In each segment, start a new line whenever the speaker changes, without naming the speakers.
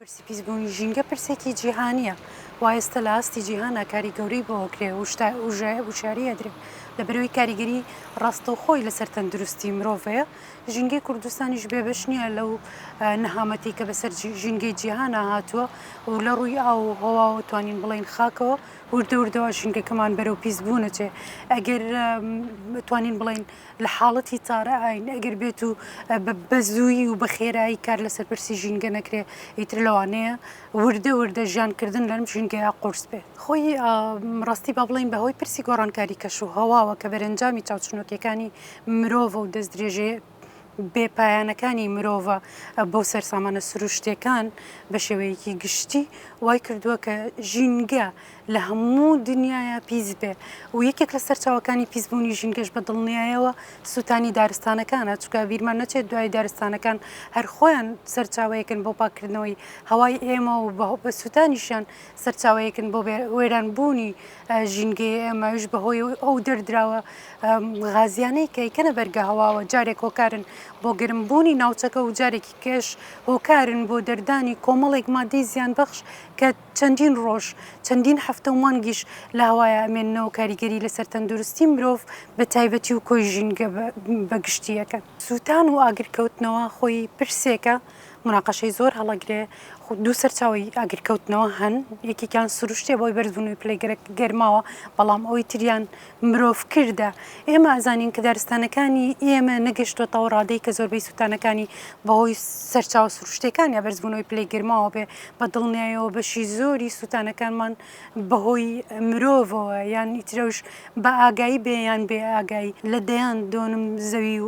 پرسی پیسبوونی ژینگە پرسێکی جیهانییە و ئێستا لە ئاستی جیهانا کاری گەورەی بۆ ئەکرێ و وشیاری ئەدرێ لە بەرەوەی کاریگەری ڕاستەوخۆی لەسەر تەندروستی مرۆڤەیە، ژینگەی کوردستانیش بێ بەش نییە لەو نەهامەتی کە بەسەر ژینگەی جیهانا هاتووە و لە ڕووی ئاو و هەواوە توانین بڵێین خاکەوە وردە وردەوا ژینگەکەمان بەرەو پیسبوونەچێ ئەگەر توانین بڵێین لە حاڵەتی تارە ئاین ئەگەر بێت و بە زوویی و بە خێرایی کار لەسەر پرسی ژینگە نەکرێ ئیتر لەوانەیە وردە وردە ژیانکردن لەم ژینگەیە قورس بێ خۆی ڕاستی با بڵین بەهۆی پرسی گۆڕانکاری کەش و هەواوە کە بەرەنجامی چاوچنۆکیەکانی مرۆڤە و دەست درێژێ بێپایانەکانی مرۆڤە بۆ سەرسامانە سروشتەکان بە شێوەیەکی گشتی وای کردووە کە ژینگە لە هەموو دنیایا پیس بێ و یەکێک لە سەرچاوەکانی پیس بوونی ژینگەش بە دڵنیایەوە سووتانی دارستانەکانە چونکە بیرمان نەچێت دوای دارستانەکان هەر خۆیان سەرچاوەیەکن بۆ پاککردنەوەی هەوای ئێمە و بە بە سووتانیشیان سەرچاوەیەکن بۆ بێ وێران بوونی ژینگەی ئێمەش بە هۆی ئەو دەردراوە غازیانەی کە یکەنە بەرگە هەواوە جارێک هۆکارن بۆ گرم بوونی ناوچەکە و جارێکی کێش هۆکارن بۆ دەردانی کۆمەڵێک مادەی زیان بەخش کە چەندین ڕۆژ، چەندین هەفتە و مانگیش لە هەوایا ئەمێننەوە و کاریگەری لەسەر تەندروستی مرۆڤ بە تایبەتی و کۆی ژینگە بە گشتی ئەکەن. سووتان و ئاگرکەوتنەوە خۆی پرسێکە موناقەشەی زۆر هەڵەگرێ، دوو سەرچاوەی ئاگرکەوتنەوە هەن، یەکێکیان سروشتیە بەهۆی بەرزبوونەوەی پلەی گەرماوە، بەڵام ئەوەی تریان مرۆڤ کردە، ئێمە ئەزانین کە دارستانەکانی ئێمە نەگەشتۆتەوە ڕادەی کە زۆربەی سوتانەکانی بەهۆی سەرچاوە سروشتیەکان یا بەرزبوونەوەی پلەی گەرماوە بێ بە دڵنیایەوە بەشی زۆری سوتانەکانمان بەهۆی مرۆڤەوە یان ئیترەوش بە ئاگایی بێ یان بێ ئاگایی لە دەیان دۆنم زەوی و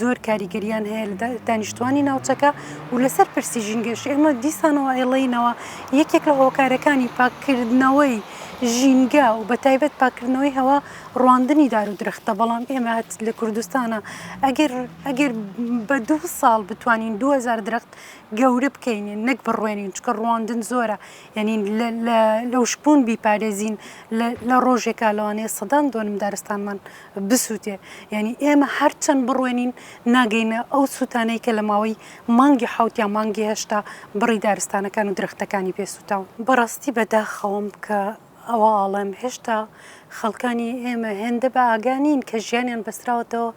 زۆر کاریگەریان هەیە لە دانیشتوانی ناوچەکە و لەسەر پرسی ژینگەش ئێمە دیسانەوە ئێڵینەوە یەکێک لە هۆکارەکانی پاککردنەوەی ژینگە و بە تایبەت پاکردنەوەی هەوا ڕواندنی دار و درختە بەڵام ئێمەات لە کوردستانە ئەگەر ئەگەر بە دو ساڵ بتوانین 2000 درخت گەورە بکەینێ نەک بڕوێنین چکە ڕواندن زۆرە یعنی لەوشبوون بیپارێزین لە ڕۆژێکا لەوانەیە سەدان دۆنم دارستانمان بسوتێ یانی ئێمە هەر چەند بڕوێنین ناگەینە ئەو سوتانەی کە لە ماوەی مانگی حەوت یا مانگی هەشتا بڕی دارستانەکان و درەختەکانی پێ سوتاون. بەڕاستی بە داخەوەم کە ئەوە ئاڵێم هێشتا خەڵکانی ئێمە هێندە بە ئاگا نین کە ژیانیان بەستراوەتەوە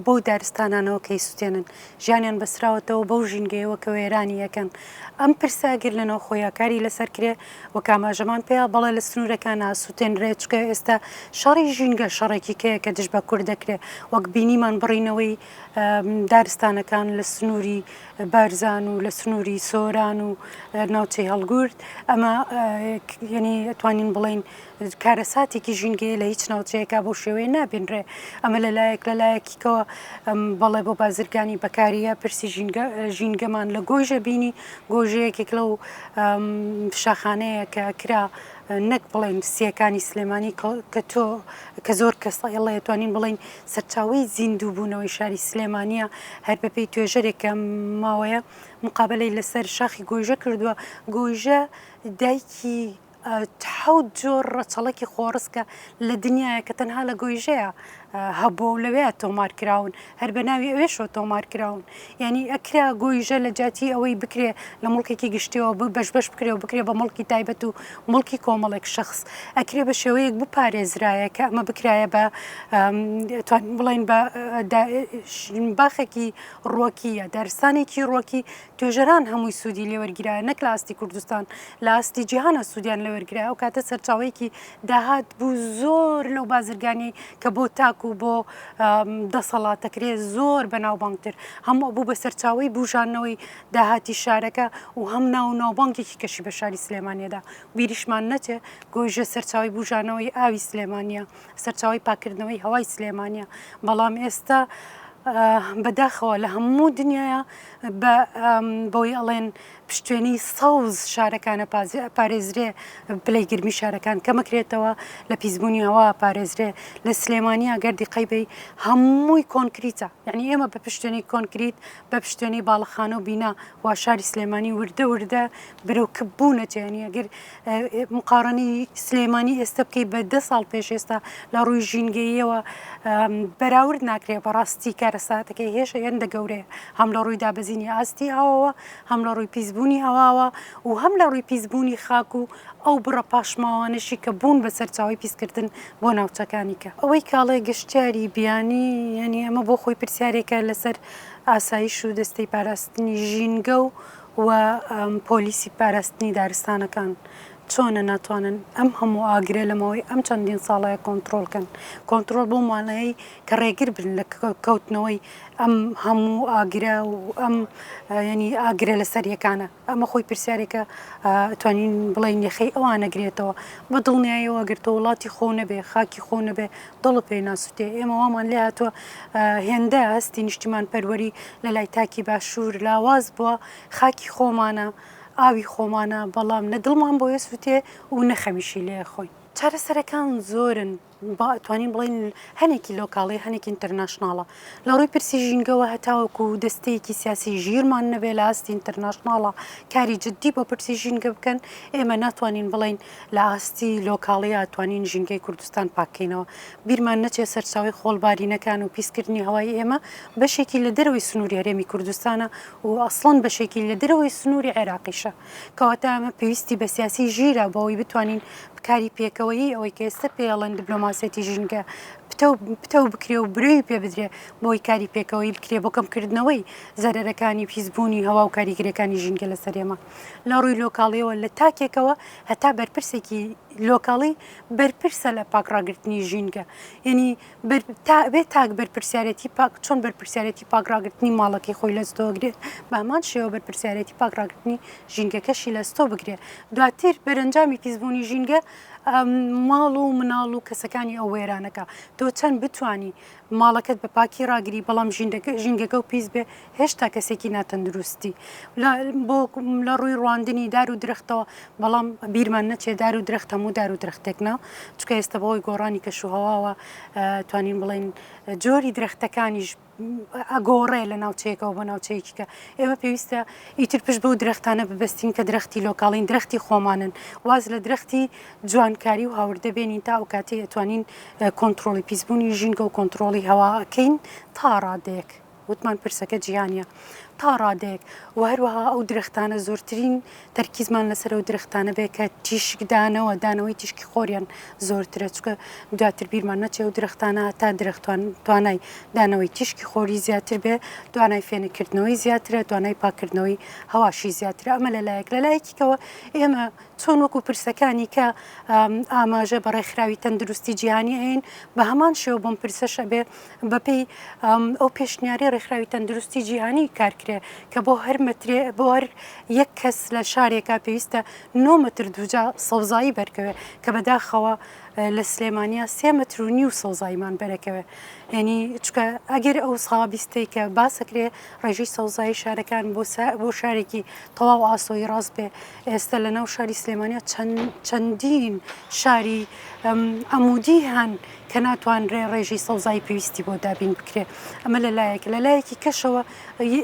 بەو دارستانانەوە کە ئیسوتێنن، ژیانیان بەستراوەتەوە بەو ژینگەیەوە کە وێرانی ئەکەن. ئەم پرسە ئەگەر لە ناوخۆییا کاری لەسەر کرێ، وەک ئاماژەمان پێیە بەڵێ لە سنوورەکان ئاسووتێنرێت، چونکە ئێستا شەڕی ژینگە شەڕێکی کەیە کە دژ بە کورد دەکرێت، وەک بینیمان بڕینەوەی دارستانەکان لە سنووری بارزان و لە سنووری سۆران و ناوچەی هەڵگورد ئەمە یەنی توانین بڵین کارەساتێکی ژینگەیە لە هیچ ناوچەیەکا بەو شێوەیە نابینرێ ئەمە لە لایەک لە لایەکیکەوە بەڵێ بۆ بازرگانی بەکاریە پرسی ژینگە ژینگەمان لە گۆیژە بینی گۆژەیەکێک لەو شاخانەیە کە کرا نەک بڵێن سیەکانی سلێمانی کە تۆ کە زۆر کەسە ئێڵە توانین بڵین سەرچاوی زیندوو بوونەوەی شاری سلێمانە هەر بەپی توێژەرێکە ماوەیە مقابلەی لەسەر شاخی گۆیژە کردووە گۆیژە دایکی حەوت جۆر ڕەچەڵەکی خۆڕسکە لە دنیاە کە تەنها لە گۆیژەیە هەبوو و لەوێ تۆمار کراون هەر بە ناوی ئەوێشەوە تۆمار کراون ینی ئەکرا گۆیژە لە جاتی ئەوەی بکرێ لە مڵکێکی گشتیەوە بە بەش بەش بکرێ و بکرێ بە مڵکی تایبەت و مڵکی کۆمەڵێک شخص ئەکرێ بە شێوەیەک بپارێزرایە کە ئەمە بکرایە بە بڵین بە باخێکی ڕۆکیە دارستانێکی ڕۆکی توێژەران هەمووی سوودی لێوەرگیرایە نەک لە ئاستی کوردستان لە ئاستی جیهانە سوودیان لەوەرگرای ئەو کاتە سەرچاوەیەکی داهات بوو زۆر لەو بازرگانی کە بۆ تاک و بۆ دەسەڵاتەکرێ زۆر بەناوبانگتر هەموو بوو بە سەرچاوی بوژانەوەی داهاتی شارەکە و هەم ناو و ناوبانگێکی کەشی بە شاری سلێمانیەدا بیریشمان نەچێ گۆیژە سەرچاوی بوژانەوەی ئاوی سلێمانە سەرچاوی پاکردنەوەی هەوای سلێمانە بەڵام ئێستا بەداخەوە لە هەموو دنیاە بە بەوەی ئەڵێن پشتێنی سەوز شارەکانە پارێزرێ پلەی گرمی شارەکان کەمەکرێتەوە لە پیسبوونی هەوا پارێزرێ لە سلێمانی ئەگەر دیقەی بی هەمووی کۆنکریتە یعنی ئێمە بە پشتێنی کۆنکریت بە پشتێنی باڵخانە و بینا وا شاری سلێمانی وردە وردە برەوکبوونەتێنی ئەگەر مقاڕنەی سلێمانی ئێستا بکەی بە دە ساڵ پێش ئێستا لە ڕووی ژینگەییەوە بەراورد ناکرێت بەڕاستی کارەساتەکەی هێشە هێندە گەورەیە هەم لە ڕووی دابەزینی ئاستی ئاوەوە هەم لە ڕووی پیسبوونی هەواوە و هەم لە ڕووی پیسبوونی خاک و ئەو بڕە پاشماوانەشی کە بوون بە سەرچاوی پیسکردن بۆ ناوچەکانی کە ئەوەی کاڵێ گەشتیاری بیانی یعنی ئەمە بۆ خۆی پرسیارێکە لەسەر ئاسایش و دەستەی پاراستنی ژینگە و و پۆلیسی پاراستنی دارستانەکان چۆنە ناتوانن ئەم هەموو ئاگرە لە ماوەی ئەم چەندین ساڵەیە کۆنترۆڵ کەن کۆنترۆڵ بۆ مانەیەی کە ڕێگر بن لە کەوتنەوەی ئەم هەموو ئاگرە و ئەم ینی ئاگرە لە سەریەکانە ئەمە خۆی پرسیارێکە توانین بڵین یەخەی ئەوان نەگرێتەوە بە دڵنیایەوە گرتە وڵاتی خۆ نەبێ خاکی خۆ نەبێ دڵت پێی ناسوتێ ئێمە وامان لێ هاتوە هێندە هەستی نیشتیمان پەروەری لە لای تاکی باشور لاواز بوە خاکی خۆمانە ئاوی خۆمانە بەڵام نە دڵمان بۆ یە سوتێ و نە خەمیشی لێ ئەخۆین. چارەسەرەکان زۆرن با ئەتوانین بڵێین هەنێکی لۆکاڵی هەنێکی ئینتەرناشناڵە لە ڕووی پرسی ژینگەوە هەتاوەکو دەستەیەکی سیاسی ژیرمان نەبێ لە ئاستی ئینتەرناشناڵە کاری جدی بۆ پرسی ژینگە بکەن ئێمە ناتوانین بڵێین لە ئاستی لۆکاڵی ئاتوانین ژینگەی کوردستان پاک کەینەوە بیرمان نەچێت سەرچاوەی خۆڵ بارینەکان و پیس کردنی هەوای ئێمە بەشێکی لە دەرەوەی سنووری هەرێمی کوردستانە و ئەسڵەن بەشێکی لە دەرەوەی سنووری عێراقیشە کەواتە ئەمە پێویستی بە سیاسی ژیرە بۆ ئەوەی بتوانین بکاری پێکەوەیی ئەوەی کە ئێستە پێی ئەڵێن دبلۆماسیەتی ژینگە پتەو پتەو بکرێ و برەوی پێ بدرێ بۆ ئەوەی کاری پێکەوەیی بکرێ بۆ کەم کردنەوەی زەرەرەکانی پیس بوونی هەوا و کاریگەریەکانی ژینگە لەسەر ئێمە. لە ڕووی لۆکاڵیەوە لە تاکێکەوە هەتا بەرپرسێکی لۆکاڵی بەرپرسە لە پاک ڕاگررتنی ژینگە یعنی بێ تاک بەرپرسیارەتی پاک چۆن بەرپرسیارەتی پاک ڕاگررتنی ماڵەکەی خۆی لەستۆگرێت بامان شێوە بەرپرسیارەتی پاک ڕاگررتنی ژینگەکەشی لەستۆ بگرێت دواتر بەرەنجامی پیسبوونی ژینگە ماڵ و مناڵ و کەسەکانی ئەو وێرانەکە تۆ چەند بتانی ماڵەکەت بە پاکی ڕاگری بەڵام ژینگەکە و پیس بێ هێشتا کەسێکی ناتەندروستی بۆ لە ڕووی ڕواندنی دار و درختەوە بەڵام بیرمان نەچێ دار و درخت هەموو دار و درختێک نا چکە ئێستا بەهۆی گۆڕانی کەشوهواوە توانین بڵین جۆری درختەکانیش ئەگۆڕێ لە ناوچەیەکەوە بە ناوچەیەکی کە ئێمە پێویستە ئیتر پشت بەو درختانە ببستین کە درختی لۆکاڵین درختی خۆمانن واز لە درختی جوانکاری و هاوردە بێنین تا ئەوکاتەی ئەتوانین کۆنتڕۆڵی پیسبوونی ژینگە و کۆنتڕۆڵی هەوا ئەکەین تا ڕادەیەک وتمان پرسەکە جیهانیە تا ڕادەیەک و هەروەها ئەو درەختانە زۆرترین تەرکیزمان لەسەر ئەو درەختانە بێ کە تیشکدانەوە دانەوەی تیشکی خۆریان زۆرترە چکە دواتر بیرمان نەچێ و درەختانە تا درەختوان توانای دانەوەی تیشکی خۆری زیاتر بێ توانای فێنکردنەوەی زیاترە توانای پاکردنەوەی هەواشی زیاترە ئەمە لەلایەک لەلایەکیکەوە ئێمە چۆن وەکو پرسەکانی کە ئاماژە بە ڕێکخراوی تەندروستی جیهانی ئەین بە هەمان شێوە بۆم پرسەش ئەبێ بەپێی ئەو پێشنیاری ڕێکخراوی تەندروستی جیهانی کارکرێ کە بۆ هەر مەترێ بۆ هەر یەک کەس لە شارێکا پێویستە نۆمەتر دوجا سەوزایی بەرکەوێ کە بەداخەوە لە سلێمانیا سێ مەتر و نیو سەوزاییمان بەرەکەوێ یعنی چکە ئەگەر ئەو سابیستەی کە باسەکرێ ڕێژی سەوزایی شارەکان بۆ بۆ شارێکی تەواو ئاسۆی ڕاست بێ ئێستا لە ناو شاری سلێمانیا چەندین شاری عمودی هەن کە ناتوانرێ ڕێژی سەوزایی پێویستی بۆ دابین بکرێ ئەمە لە لایەک لە لایەکی کەشەوە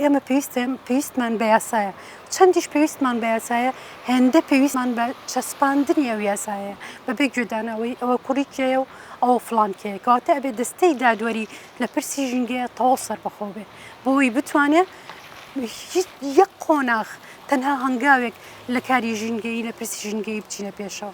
ئێمە پێویستێن پێویستمان بە یاسایە چەندیش پێویستمان بە یاسایە هێندە پێویستمان بە چەسپاندنی ئەو یاسایە بەبێ گوێدانەوەی ئەوە کوڕی کێە و ئەوە فلان کێ کەواتە ئەبێ دەستەی دادوەری لە پرسی ژینگەیە تەواو سەربەخۆ بێ بۆی بتوانێت هیچ یەک قۆناغ تەنها هەنگاوێک لە کاری ژینگەیی لە پرسی ژینگەیی بچینە پێشەوە.